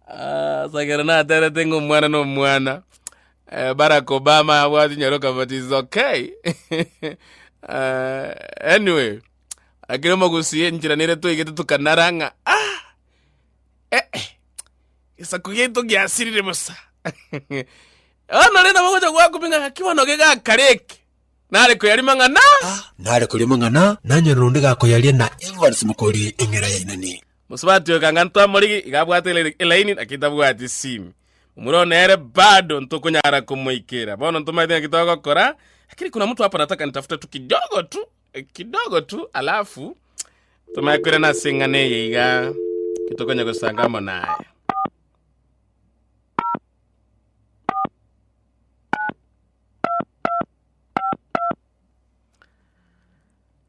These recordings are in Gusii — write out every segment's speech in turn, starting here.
Ah, sagera naterete ng'a omwana na omwana eh, barack obama abwati nyaroka but is okay Ah, anyway akire omogusie nchira nere toigete tukanara ng'a ah eh, eh, gesaku giaito giasirire bosa onore nabo gocha gwakumi ng'a gaki bono gegakareke nare koyarima ng'a na nare korema ng'ana nanyora onde gakoyaria na evans mokori eng'era yainani Bose batioka ng'a ntwamorigi iga abwate ele- elaini naki tabwati esimi. Momura oo nere bado ntokonyara komoikera. Bono ntomaete ng'aki togokora, lakini kuna mtu hapa nataka nitafute tu kidogo tu, eh, kidogo tu alafu tomanye koirana ase eng'ana eye iga tokonya gosanga amo naye.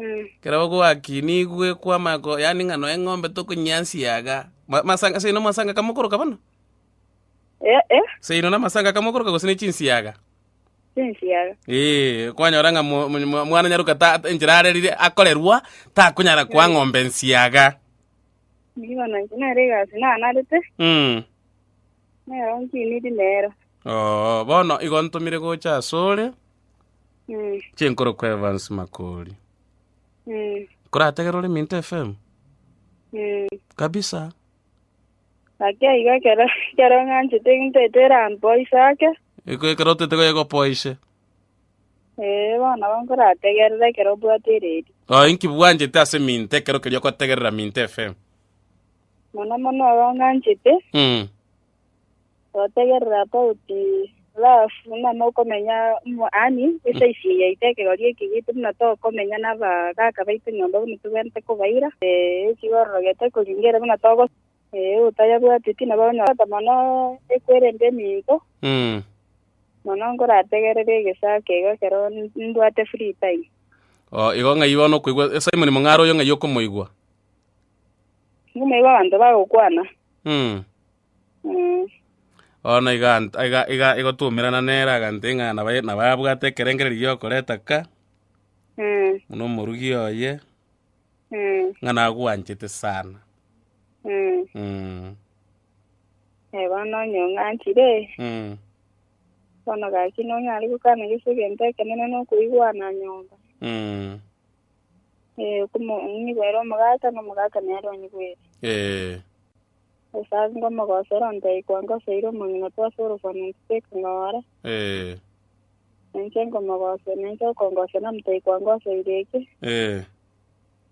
Ekero bagoakinia igwekwa amako yaani ng'a nonya eng'ombe tokonyiansia iga. Ma- Masanga seino masanga kamokoroka bono? Eh, eh, Seino namasanga kamokoroka gose ne chinsiaga? chinsiaga. Ee, kwanyora ng'a mo- mo- mo- mwana nyaruka ta- ta- enchera arerire akorerwa takonyara koa ng'ombe nsiaga. Nigo nanche nere egasi nanarete, Mm. nero nkiniri nero. Oo, bono igo ntomire gocha asore. Mm. Chinkoro kwa Evans Makori. Mm. Korategera ore Minto FM? Mm. Kabisa. Ake igo ekero ekero ng'anchete egento ete erampoise ake. Eko ekero otete goyegopoise. Eh, bono bo nkorategerera ekero obwate eredi. Oh, inki bwanchete ase Minto ekero kerio okotegerera Minto FM? Mono mono igo ng'anchete. Mm. Gotegerera abauti rafu ng'ama okomenya mo ani ase isi yaito ekegori eki gitu buna tokomenya nabagaaka baito nyomba buna togwenerete kobaira ee eki gororogete koringa ere buna togo ee otayabwati pi nabo onyora ota mono ekwerende eminto mono nkorategerere egesaa keiga ekero mbwate free time. Oo igo ng'ai bono okoigwa Simon Mong'aro oyo ng'ai okomoigwa? Nyuma igo abanto bagokwana. Mm. Mm. Bono iga ant- iga iga igotumerana nere agante ng'a naba naba abwate ekerengererio giokoreta ka Mm. buna omorugi oye Mm. ng'a nagwanchete sana. Mm. Mm. Eh, bono onye ong'anchire, Mm. bono gaki nonyare gokwana gese egento ekenene na okoigwana nyomba. Mm. Eh, okomo- onyigwere omogaka, na omogaka nere onyigwere. Eh, Gose ase ngomogosera ontaikwa ngoseire omong'ina twase orosana ntiteke ng'ora, eh, nenche nkomogosera, nenche okongosera motaikwa ngoseire eke, eh,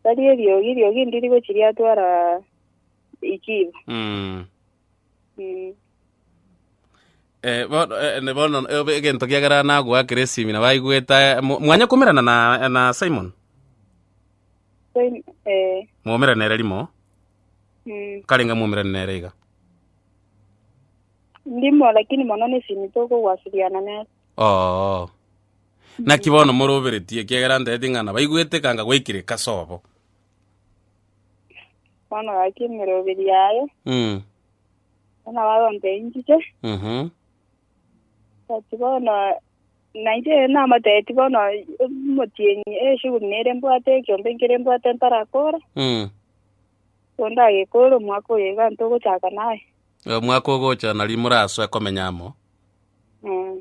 tari eriogi, eriogi ndiri gochi riatwara ikiibo. mm, Eh, bono, eh, ne- bono eh, egento kiagera nagoakera esimi na baigwete eh, mo- mwanyakomerana na, na simon Sim- eh, mwomerana ere rimo mm, karenga mwomerana nere iga ndimo lakini mono nesimi tokogwasiriana nere oo naki bono moroberetie kiagera ntete ng'ana baigwete kanga gwaikire kasobo Bono gaki emeroberi yaye, Mm. bono bagonta enchike, Mhm. ati bono nainche namotebeti bono omotienyi eshughuli nere mbwate ekiombe nkere mbwate ntarakora, Mm. kondagekore omwaka oyo iga ntogochaka naye. Omwaka ogocha nari morasoe komenya amo. Mm.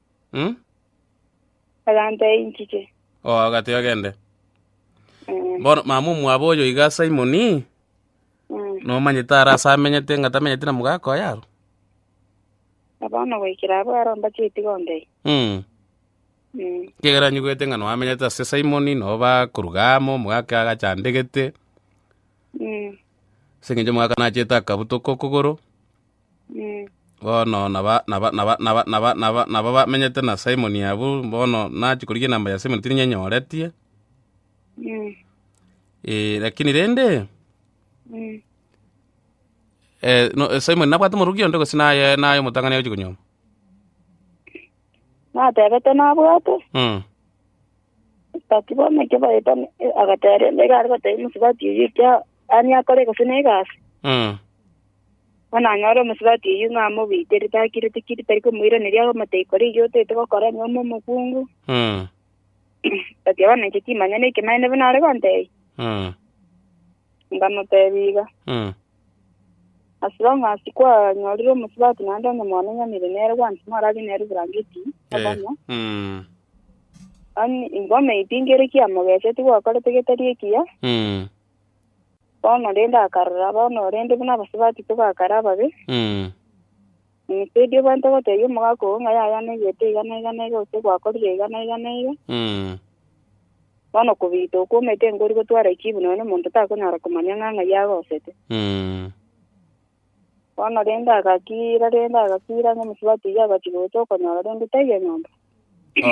Agantee inchike. O, agatee ogende. Mm. Bono mama omwabo oyo iga Simoni, Mm. nomanyete ara ase amenyete ng'a tamenyete na mogaka oye aro. Na bono goikera abwo aro mbache itigo ndei. Mm. Mm. Kegera nyigwete ng'a noamenyete ase Simoni, noba koruga amo, omogaka agachandegete, Mm. ase eng'encho omogaka nachete akabutoka okogoro, Bono naba bamenyete na Simon abwo, bono nachia korigia enamba ya Simon tirinyenyoretie, lakini rende Simon nabwate omorokia onde gose naye omotang'ani agochia konyora? natebete nabwate, Mm. Nsibati bono ekio baeta ne- e- agateba rende iga aria gotebia Nsibati eyio ekia ani akore gose ne egasi. Mm. Bono anyore Nsibati eyio ng'a amobiitere takireti kiri tari komoiraneria agomotebia kora eyio otaete gokora onye ime omokungu. Mm. Nsibati bono inche timanyeti ekemanyereiri buna are gontebia. Mm. Nkamotebia iga. Mm. As long as kwanyorire omosubati naende onye mwanenyanire nere gwansi mwarabie nere eburangeti obonya Mm. ani igo maybe ngere kiamogeseti gwakorete getari ekiya Mm. bono rende akarora bono rende buna abasubati togakare ababe Mm. Teidie bwente goteebia omogaka oo ng'a yaya neegete iga na iga na iga, gose gwakorire iga na iga na iga. Bono okobiita okwo omanyete nkori gotwara echibu nonya omonto takonyara komanya ng'a ng'ai agosete. Bono rende agakiira rende agakiira ng'a omosubati oyio agachia gocha okonyora rende taiyo nyomba.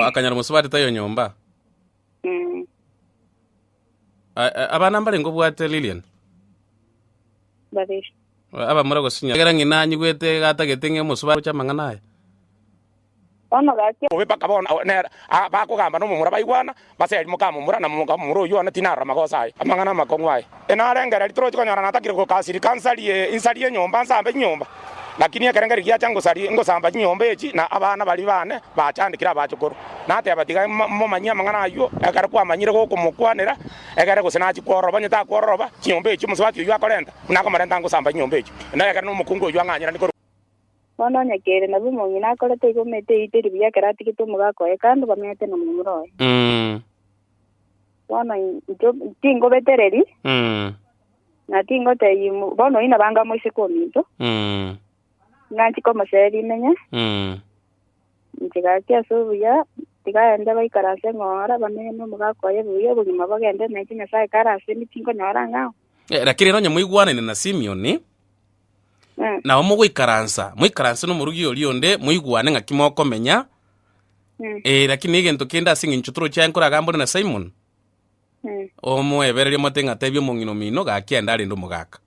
Akanyora omosubati taiyo nyomba? Mm. A- a- abana mbarenge obwate lilian Babiri. abamura gosinya egera ng'ina anyigwete gatagete ng'e omosuba gocha amang'ana aya Bono gachia bobe mpaka bono awo- nera a- bakogamba nomomura baigwana base ari mokamomura na mokamomura oyio one tinarora magoso aye amang'ana amakong'u aye Enarengereria toroche konyora natakire gokasiri kansarie insari y'enyomba nsambe chinyomba, lakini ekerengerio giacha ngosarie ngosamba chinyomba echi na abana baria bane bachandekire abachokoro. Nateba, Tiga momanyie amang'ana ayio, ekero kwamanyire gokomokwanera egere gose nachie kwororoba, onye takwororoba chinyomba echio omosubati oyio akorenta, buna akomorenta ngosamba chinyomba echio, na ekero nomokungu oyio ang'anyerani korwa. Bono onye keire nabo omong'ina akore toigo omete eite ribuya ekero atigete omogaka oye kando bamenyete nomomura oye. Bono intwe tingobetereri, Mm. na tingotebia mo- bono oyio nabo anga moiseke ominto, Mm. inganchie komosee rimenya, Mm. nchigaki ase obuya, tigaende baikara ase eng'ora, bamenye nomogaka oye buya, obogima bogende nainche Nyasae kare ase inwe tinkonyora ng'ao. Eh, Lakini rero onye moigwanane na Simioni, Mm. nabo mogoikaransa, moikaranse nomorugi oria onde, moigwane ng'aki mokomenya, Mm. Eh, lakini egento kende ase eng'encho toroche aye nkore agambore na simon Mm. omoebereria omate ng'a tebia omong'ina omino gaki ende arende omogaka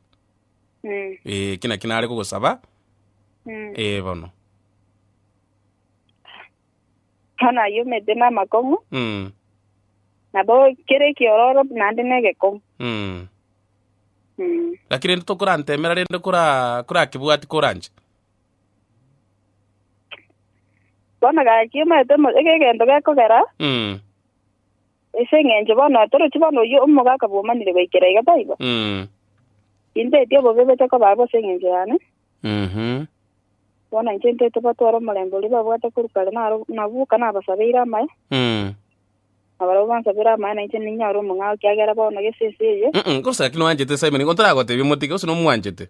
Mm. Eh, eki naki nare kogosaba Mm. eh, bono Bono ayio omete namakong'u Mm, nabo kere ekiororo naende negekomu mm. Mm. lakini rende tokorantemera rende kora korakebwati koranche Bono gaki omanyete mo- eke egento gekogera, Mm, ase eng'encho bono torochi bono oyio omoga akabua omanire goikera iga, taibo? mm, Inteti obobe bocha koba abwo ase eng'encho yane, mhm, bono inche inteti batware omorembe oria babwate korwa kare naro nabwo boka nabasabeire amaye, mm. na barabwo bansabere amaye na inche ninyore omong'ao, ekiagera bono gese ense eye, Mm-mm, gose naki nwanchete Simon, igo ntaragotebia motige, gose nomwanchete?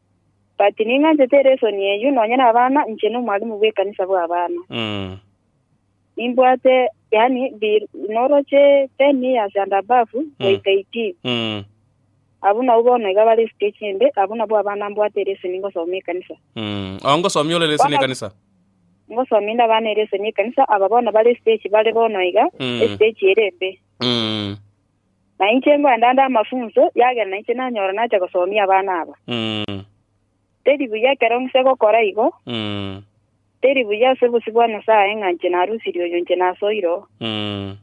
But ning'anchete elesson eyio nonya na abana inche no mwalimu bwe kanisa bwa abana. Mm. Nimbwate yani bi noroche 10 years and above goika 18. Mm. Abwo nabwo bono iga bare stage ende abwo nabwo abana mbwate elesson ngosoma ekanisa. Mm. Ao ngosomia ore lesson Bana- ekanisa. Ngosoma inde abana elesson ekanisa aba bono bare stage bare bono iga Mm. estage ere embe. Mm. Na inche ngoenda nde amafunso, eagera nainche nanyora nacha gosomia abana aba. Mm. Teri buya ekero ng'ise gokora igo, Mm. teri buya ase obosio bwa Nyasae ng'a inche narusirie oyo inche nasoire oo. Mm.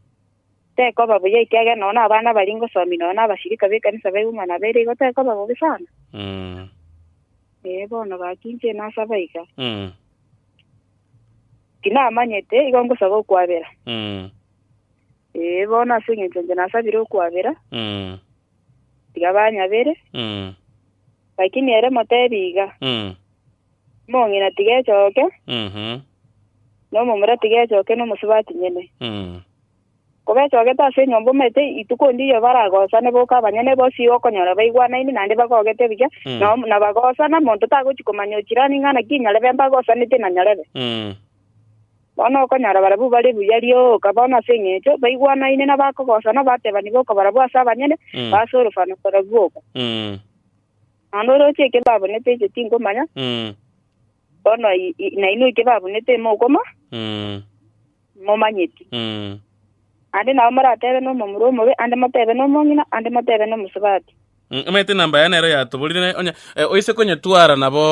Tekoba buya ekiagera nonya abana baria ngosomia nonya nabasirika b'ekanisa ba Iguma na Bere igo tekoba bobe sana. Mm. Ee, bono gaki inche nasaba iga. Mm. Tinamanyete, igo ngosaba okwabera. Mm. Ee, bono ase engencho inche nasabire okwabera, Mm. tiga banyabere. Mm. Lakini ere motebi iga, Mm. Omong'ina tiga echoke, Mhm. na omomura tiga echoke, na omosubati nyene. Mm. Koba echogete ase enyomba omanyete ituko ndiyo baragosane boka abanyene bosi igo okonyora baigwanaini naende bagogete buya, Mm. na om- na bagosana monto tagochi komanya ochirani ng'a naki nyarebe mbagosanete na nyarebe. Mm. Bono okonyora barabwo bare buya rioka bono ase engencho baigwanaine na bakogosana batebani boka barabwo ase abanyene ba ase orofana barabwo boka. Naende oroche eke babunete inche tingomanya, bono nainwe eke babunete imokoma, imomanyeti. Naende nabo moratebe nomomura omobe, ande motebe nomong'ina, ande motebe nomosubati. Omanyete enamba yaye nero yatoborire, naye onye eh, oise konyetwara nabo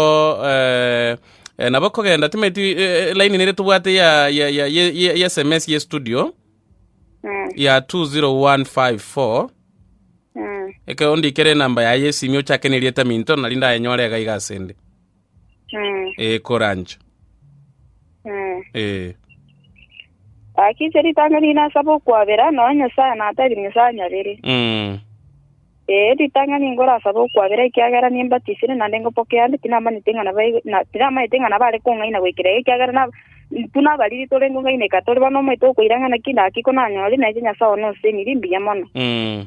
eh, eh, nabo kogenda timeti eh, eh, line nere tobwate ya ya ya ya- ya- ya sms ye studio Mm, ya 20154 mm. eke ondikere enamba yaye yesimi ochake nerieta minto nari ndayenyore iga iga asende Mm. ee korancha Mm. ee Gaki ase ritang'ani ri'ina asaba okwabera, nonya Nyasaye natebire Nyasaye anyabere. mm. Ee, ritang'ani nkorasaba okwabera ekiagera nimbatisire naende ngopokee ande tinamanyete ng'a nabae- na- tinamanyete ng'a nabare kong'aina goikera iga ekiagera na- buna abariri tore nkong'aineka tore bono omoeto okoirang'ana ki naki konanyore naeche Nyasae one osenirie mbuya mono. Mm.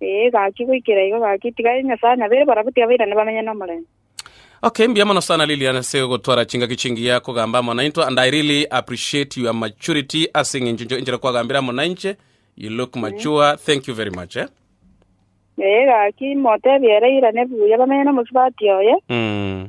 Ee, gaki, goikera igo gaki. Tiga aye Nyasae nabeire barabwo, tiga bairane bamenye nomorembe. Okay, mbuya mono sana Lilian ase ogotwara chingaki chingiya kogamba amo naintwe and I really appreciate your maturity ase eng'encho encho- enchera kwagambire amo nainche. You look mature. Thank you very much eh. Ee, gaki, motebie ere airane buya bamenye nomosubati oye. Mm.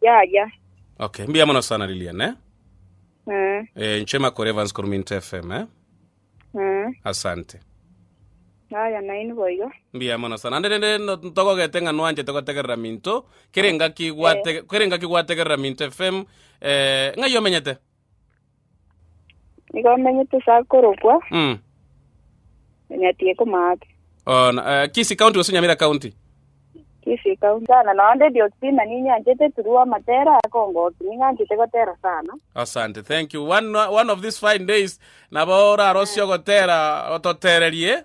Yaya. Okay, mbuya mono sana Lilian eh? Mm. Eh, nche Makore Evans korwa Minto FM eh? Mm. Asante. Yaya naini boigo. Mbuya mono sana. Ande nende no- ntogogete ng'a nwanchete gotegerera Minto. Kere ngaki gwate kere ngaki gwategerera Minto FM. Eh, ng'ai omenyete? Nigo omenyete ase akorokwa, Mm. onyatie komaate. Oh, na, eh, Kisii County gose Nyamira County? Kisii County. Sana nonya ndedi otima ninyanchete turua amatera akongoki ninganchete gotera sana. Asante, thank you. One, one of these fine days nabo orarosie ogotera ototererie.